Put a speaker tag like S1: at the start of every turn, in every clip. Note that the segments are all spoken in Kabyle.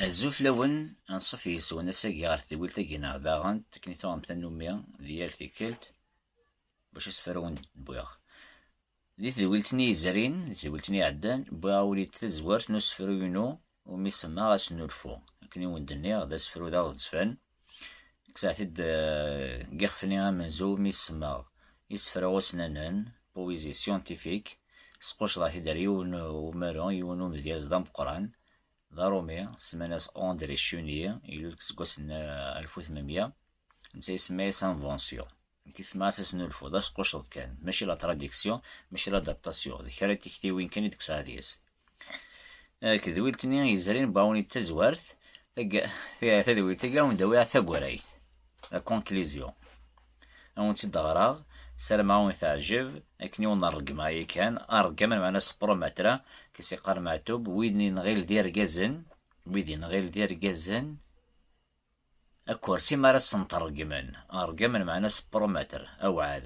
S1: Azul fell-awen, anṣuf yes-wen ass-agi ɣer tedwilt-agi neɣ daɣen akken i tuɣem tannumi di yal tikkelt, bac asefru wen d-wwiɣ. Di tedwilt-nni yezrin, di tedwilt-nni iɛeddan, wwiɣ-awen-id tazwert n usefru-inu umi semmaɣ Asnulfu. Akken i wen d-nniɣ, d asefru d aɣezfan. Kkseɣ-t-id deg yixef-nni amenzu umi semmaɣ Isefra ussnanen, poésie scientifique. Squcḍeɣ-t-id ɣer yiwen umaru, yiwen umedyaz d ameqqran, d aṛumi, semman-as André Chenier, ilul deg seggas n 1800, netta isemma-as invention. Nekk isemma-as asnulfu, d asqucceḍ kan, mačči la tradiction, mačči la adaptation, d kra n tiktiwin kan i d-tesɛa deg-s. Tedwilt-nni yezrin Baoni d tazwart, tadwilt-agi awen-d-awiɣ tagrayt, la conclusion. awen-tt-id-ɣraɣ sarma awen-teɛjeb akken i wen-ṛeggmeɣ yakan aṛeggam lmeɛna seqrum matra kes iqqar meɛtub wid nɣil d irgazen wid nɣil d irgazen akursi mi ara sen-tṛeggmen aṛeggam lmeɛna seqrum matr awɛad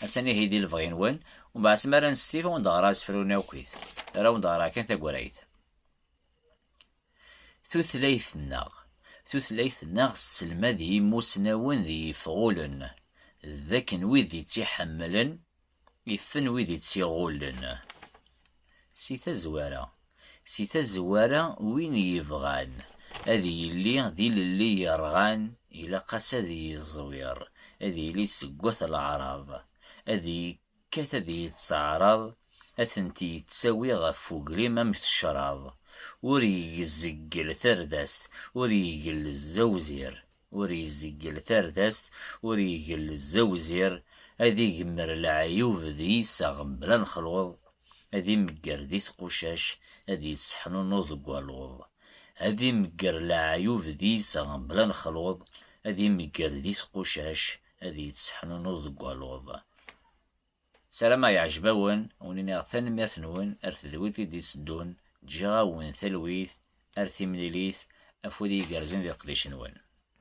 S1: attan ihi di lebɣi-nwen umbeɛd mi ara nestif awen-d-ɣraɣ asefru-nni akkit ara awen-d-ɣraɣ kan tagrayt Tutlayt-nneɣ Tutlayt-nneɣ tesselmad i yimusnawen d yifɣulen d akken wid i tt-iḥemmlen ifen wid i tt-iɣullen. Si tazwara Si tazwara win yebɣan ad yili d ilelli yerɣan ilaq-as ad yeẓwir, ad yili seg wat leɛraḍ, ad Kkat ad iyi-tt-teɛraḍ, ad tent-yettawi ɣef ugrim am tecraḍ, ur igezzegel tardast, ur igelzz awzir, ur igezzegel tardast, ur igelzz awzir, ad igemmer leɛyub d yiseɣ mebla lexluḍ, ad imegger di tqucac, ad yeţḥnunu deg waluḍ. Ad imegger leɛyub d yiseɣ mebla lexluḍ, ad imegger di tqucac, ad iyi-tesseḥnunuḍ deg waluḍ. Sarameɣ yeɛjeb-awen, wen-iniɣ tanemmirt-nwen ar tedwilt i d-itteddun, ǧǧiɣ-awen talwit ar timlilit, afud igerrzen di leqdic-nwen.